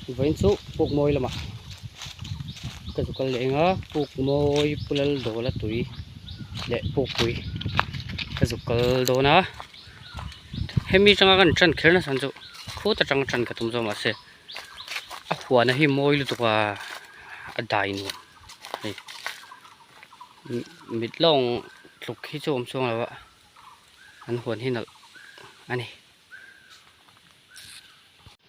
Vawiin chu Pukmawi lama ka zu kal leh eng a, Pukmawi Pulal Dawla tui leh Pukpui ka zu kal dawn a, hemi atanga ka rawn ṭan kher nasa chu khut atang a ṭan ka tum zawk mahse a huana hi mawi lutuk a, a dai nuam mai mit lawng tluk hi chu a awm chuang lo a, an huan hi nalh a ni.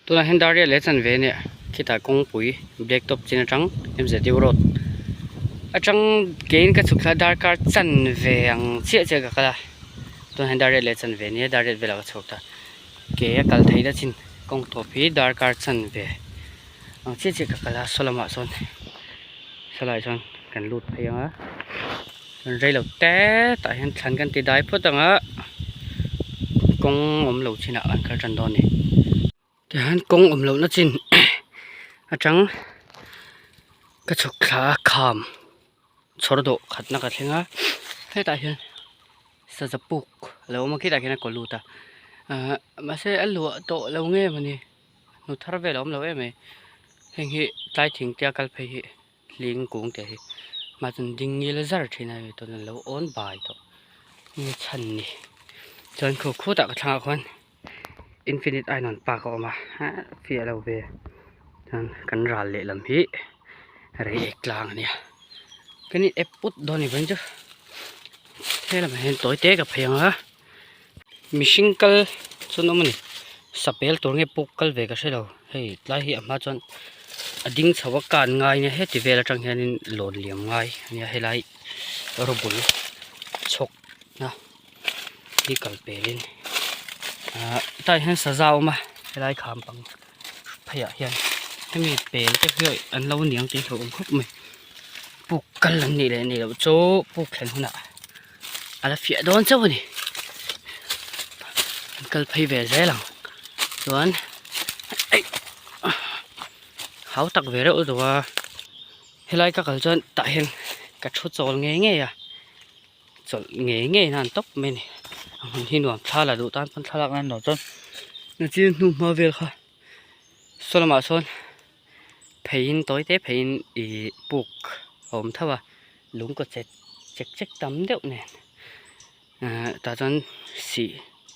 Tunah hian Daria leh Chanve nen khitah kawngpui Blacktop chin atang MZU road atang keiin ka chhuk thla a darkar Chanve ang chiah chiah ka kal a, tunah hian Daria leh Chanve nia Daria velah ka chhuk ta kei a kal thei ta chin kawngthawp hi darkar Chanve ang chiah chiah ka kal a, saw lamah sawn saw lai sawn kan lut phei ang a. Kan rei lo te tah hian thlan kan ti dai phawt ang a kawng awm loh chinah kan kal tan dawn a ni tichuan kawng awm lohna chin atang ka chhawk thla a kham chhawr dawh khatna ka thleng a hetah hian sazapuk a lo awm a khitah khian a kaw lut a ah mahse a luah tawh lo ngei emaw ni hnu thar vel a awm lo em e heng hi tlai thingte a kal phei hi. hling kung te hi mah chuan ding ngil zar thin a ni chuan in lo awn bai tawh nge chhan ni chuan khuk khut ah ka thlang ah khuan infinite a rawn park a awm a hah fiah lo ve chuan kan ral leh lam hi rei ek tlang a nia kani ep put dawn i chuan chu he lamah hian tawi te ka phei ang a. mihring kal chuan awm a ni sapêl tûr nge pûk kal ve ka hre lo hei tlai hi a hma chuan a ding chho a kân ngai nia heti vêl aṭang hianin lâwn liam ngai a nia helai rûbul chhawk na hi kal pêlin ahh hetah hian saza a awm a helai khâm pang pheiah hian hemi pêl te hi an lo niang tih hlauh âwm khawp mai pûk kal an nih leh ni loh chauh pûk thlen hunah. a la fiah dawn chauh a ni an kal phei ve zel ang chuan eih hau tak ve reuh reuh a helai ka kal chuan tah hian ka thu chawl ngei ngei a chawlh ngei ngei a nan tawp mai a ni a hmun hi nuam thla la duh tan chuan thlalak nan lo chuan a sir hnung hma vel kha saw lamah sawn-- pheiin tawi te pheiin ih puk a awm tho a lung kaw chet chek chek tam deuh nen ehh tah chuan sih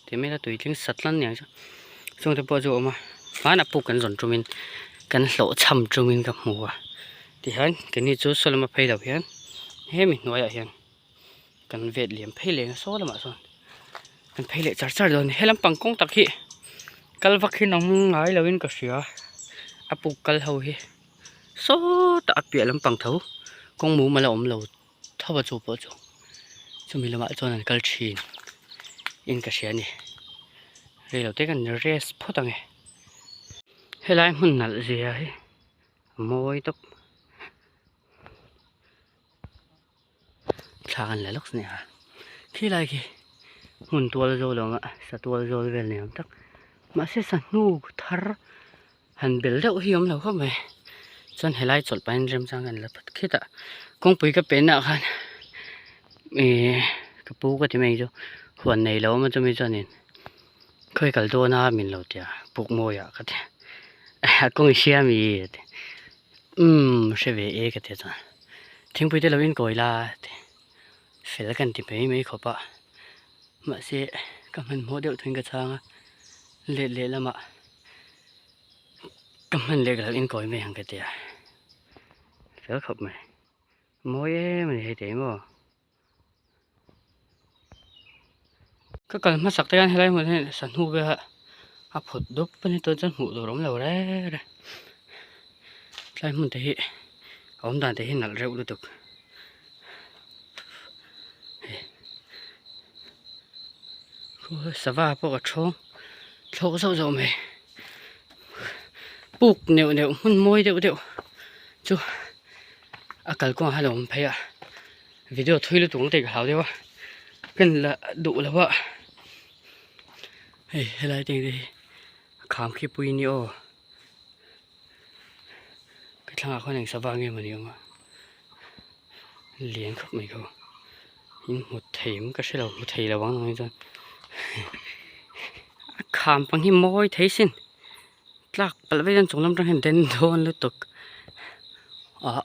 tih mai ila tui tling sat hlan nia chu chung te pawh chu a awm a hmanah puk kan zawn tum in kan hlawh chham tum in ka hmu a tihian keni chu saw lama phei loh hian he mi hnuaiah hian-- kan vet liam phei leh saw lamah sawn kan phei leh char char dawn a ni helampang kawng tak hi kal vak hi nawm ngai lovin ka hria a puk kal ho hi sawta a piah lampang tho kawng mum ala awm lo tho a chu pawh chu chumi lamah chuan an kal thin in ka hria a ni rei lo te kan rest phawt a nge helai hmun nalh zia hi a mawi tawp. thla an la lawk si nia khilai khi hmun tual zawl ang a sa tual zawl vel ni awm tak mahse sanu thar han bel deuh hi awm lo khawp mai chuan helai chawlh pahin remchang hian a la phat khit a kawngpui ka pehna ah khan ihh ka pu ka ti mai chu huan nei lo awm a chumi chuan in-- Khawi kal dawn a min lo tia puk mawi ah ka ti a kawng i hria mi a ti umm hre ve e ka ti a chuan thingpui te lo in kawi la a ti fel ka han ti mai mai khawp a mahse ka hman hmawh deuh tawhin ka chhang a let leh lam ah ka hman leh ka lo in kawi mai ang ka ti a fel khawp mai mawi em a ni hei te hi maw. Ka kal hmasak te hian helai hmun hi sa hnu bia a phut dup a ni chuan chuan hmuh tur awmlo re re tlai hmun te hi a awm dan te hi nalh reuh lutuk khua sava pawh a chhawng thlawk zauh zauh mai puk neuh neuh hmun mawi deuh deuh chu-- a kal kawng ah hian a awm phei a video thui lutuk ang te ka hlau deuh a pen lah duh loh a hei helai te engte hi kham khi pui a ni aw ka thlangah khan eng sava nge mawni awm a lian khawp mai ka awm in hmut theih ang ka hre lo hmu thei lo ang ang hi chuan a kham pang hi mawi thei sin. tlak palh vek hian chunglam atang hian den dawn lutuk ah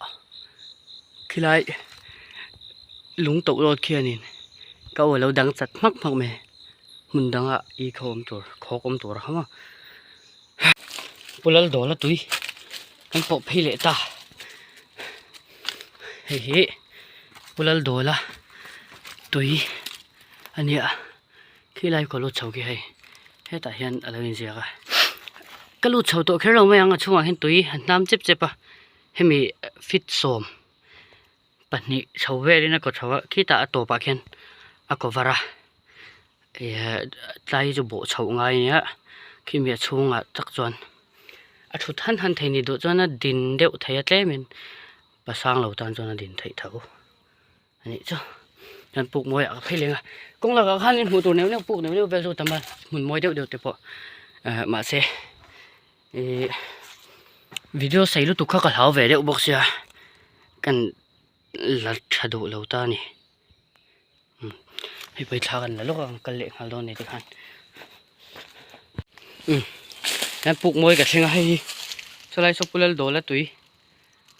khilai lung toh zawt khianin ka awi lo dang chat hmak hmak mai hmun dangah i kho awm tur khawk awm tur a hang a pu Laldawla tui kan pawh phei leh ta hei hi pu Laldawla tui a nia. Khi lai ka lut chho khi hei hetah hian a lo inziak a ka lut chho tawh kher lo mai ang a chhungah hian tui a hnam chep chep a hemi feet sawm pahnih chho velin a kaw tho a khitah a tawpah khian a kaw var a eeh tlai hi chu bawh chho ngai a nia khimi a chhungah chak chuan a thut han han thei nih duh chuan a din deuh thei a tlem in pasang lo tan chuan a din theih tho. a nih chu chuan puk mawi ah ka phei leng a kawng lakah khanin hmuh tur neuh neuh puk neuh neuh vel chu tam a hmun mawi deuh deuh te pawh eh mahse ih video sawi lutuk kha ka hlau ve deuh bawk sia kan la tha duh lo ta ni umm hemi thla kan la lawk a kan kal leh nghal dawn nei te khan umm hian puk mawi ka thleng a hei hi chulai saw pulal dawla tui.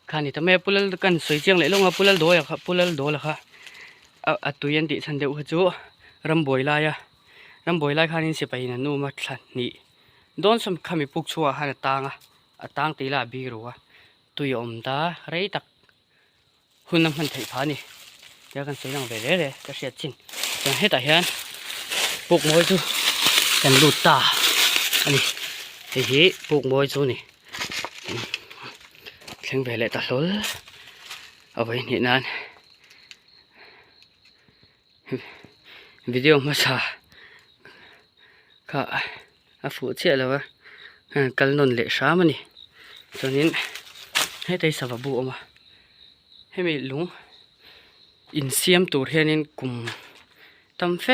khani ta mai a pulal kan sawi chiang leh lawng a pulal dawi a kha pulal dawla kha a a tui an tih chhan deuh kha chu rambuai laia rambuai lai khanin sipai in an awm a thla hnih dawn sawm kha mi puk chhuaah khan a tang a a tang tih ila a bik rua tui a awm ta rei tak. Hun an hman theih pha a ni. Tia kan sawi lang ve rere ka hriat chin. Chuan hetah hian puk mawi chu kan lut ta a ni. Hei hi puk mawi chu a ni. Thleng ve leh ta hlawl a vei hnih nan video hmasa kha. a fuh chiah lo a a kal nawn leh hram a ni chuanin hetei savabu a awm a hemi lung in siam tur hianin kum tam fe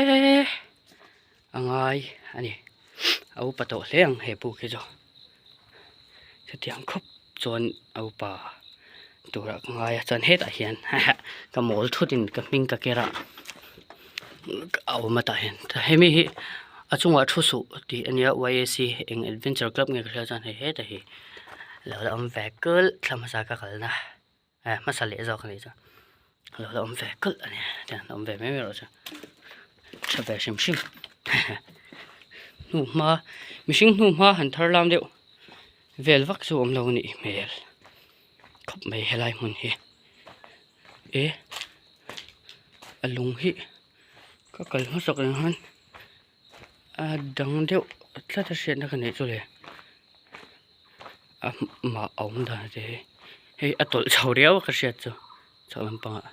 a ngai a ni a upa tawh hle ang he pu khi chu. chutiang khawp chuan a upa tura ka ngai a chuan hetah hian hahah ka mawl thutin ka hming ka ker a a awm atah hian hemi hi a chungah thu suh tih a nia eng adventure club nge ka hria a chuan hei hetah hi alo la awm ve kal thla hmasa ka kalna. He hmasa leh zawk a nih chuan lo la awm ve kulh a nia tiang a awm ve mai mai erawh chuan tha ve hrim hrim hehe hnu hma mihring hnu hma han thar lam deuh vel vak chu awm lo a nih hmel khawp mai helai hmun hi e a lung hi ka kal hmasakah hian. A dang deuh tlat a hriatna ka neih chu le ah mah a awm dan te hi hei a tawlh chho riau a ka hriat chu chho lampangah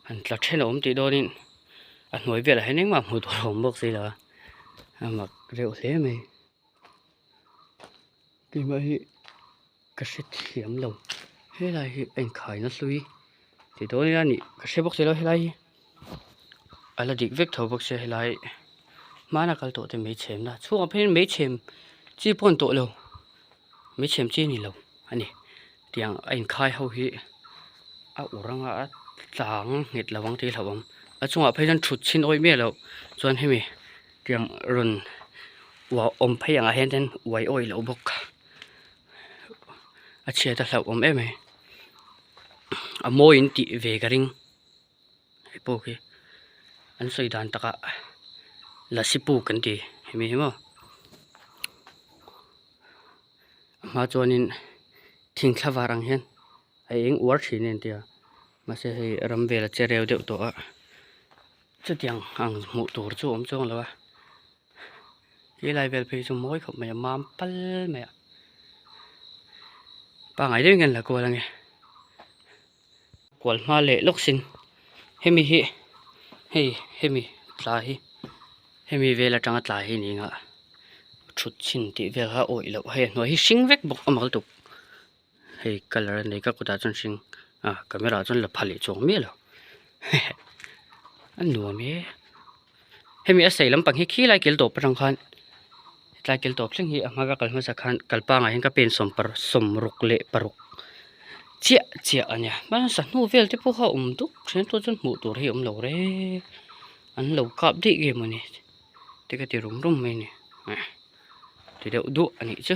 han tla then a awm tih dawnin a hnuai velah hian engmah hmuh tur a awm bawk si lo a a mak reuh hle mai. tunah hi ka hre thiam lo helai hi a inkhai na hlui ti dawi a ni ka hre bawk si lo helai hi a la dik vek tho bawk sia helai hmana kal tawh te mai chhem na chhungah phei hian mai chhem chi pawh a ni tawh lo mai chhem chi a ni lo a ni. Tiang a inkhai ho hi a ur anga a tlang nghet lo ang tihloh ang a chungah phei chuan thutchhin awi miah loh chuan hemi tiang rawn uah awm phei ang ah hian ten uai awi loh bawk a chhiat a hlauh awm em em a mawiin tih ve ka ring hei pawh khi an sawi dan taka lasi puk an ti hemi hi maw. a hma chuanin thing thla var ang hian a eng uar thin a intia mahse hei ram vela che reu deuh tawha chutiang ang hmuh tur chu a awm chuang lo a helai vel phei hi chu mawi khawp mai a mam pal mai a pangngai deuh in ka in la kual a ni. Kual hma leh lawk sin hemi hi hei hemi tla hi hemi vel atanga tla hi nia thut chhin tih vel kha awih loh hei a hnuai hi hring vek bawk a mal tuk hei colour a nei ka kawtah chuan hring a camera ah chuan la pha leh chuang miah lo a nuam e. hemi a sei lampang hi khi lai kil tawp atang khan hetlai kil tawp thleng hi a hmanga kal hmasa khan kalpangah hian ka pen sawm paruk sawm ruk leh paruk chiah chiah a nia hmanga sahnu vel te pawh kha awm dup ṭhian pawh chuan hmuh tur hi awm lo re an lo kap daih nge maw ni te ka ti rum rum mai a ni ti deuh duah a nih chu.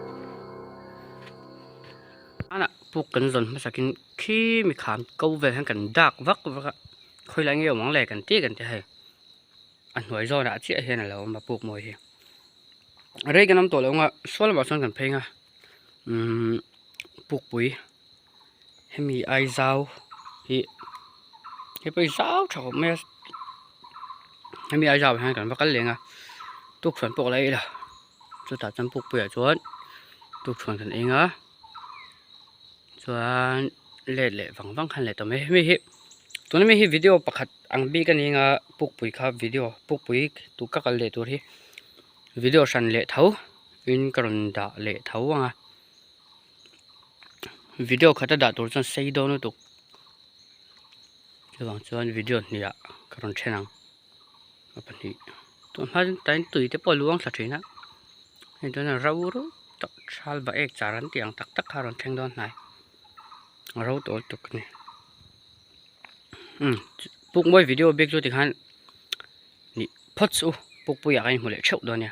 Manah puk kan zawn hmasak in khi mi kham ko vel hian kan dak vak vak a, khawi lai ngei awm ang le kan tih kan ti hei, a hnuai zawn ah chiah hian a lo awm a puk mawi hi, rei kan awm tawh loh ang a sual lamah sawn kan phei ang a umm pukpui. hemi aizau hi hi pawh hi zau tha khawp mai a hemi aizau ah hian kan va kal leng a tukhuan pawh ka la ila chutah chuan pukpuiah chuan tukhuan kan eng a chuan late leh vang vang khan leh tawh mai hemi hi tuna mi hi video pakhat ang bik a ni anga pukpui kha video pukpui tun ka kal leh tur hi video hran leh tho in ka rawn dah leh tho ang a. video khata dah tur chuan sei dawn lutuk chuvang chuan video hnihah ka rawn then ang a pahnih tûn hma chu tain tui te pawh a luang thla thin a hei dawna ro ro tak chhal ba ek char an tih ang tak tak kha a rawn thleng dawn hnai a ro tawh lutuk a ni umm pukmawi video bik chu tikhan nih phawt suh u pukpuiah ka inhmu leh theuh dawn nia.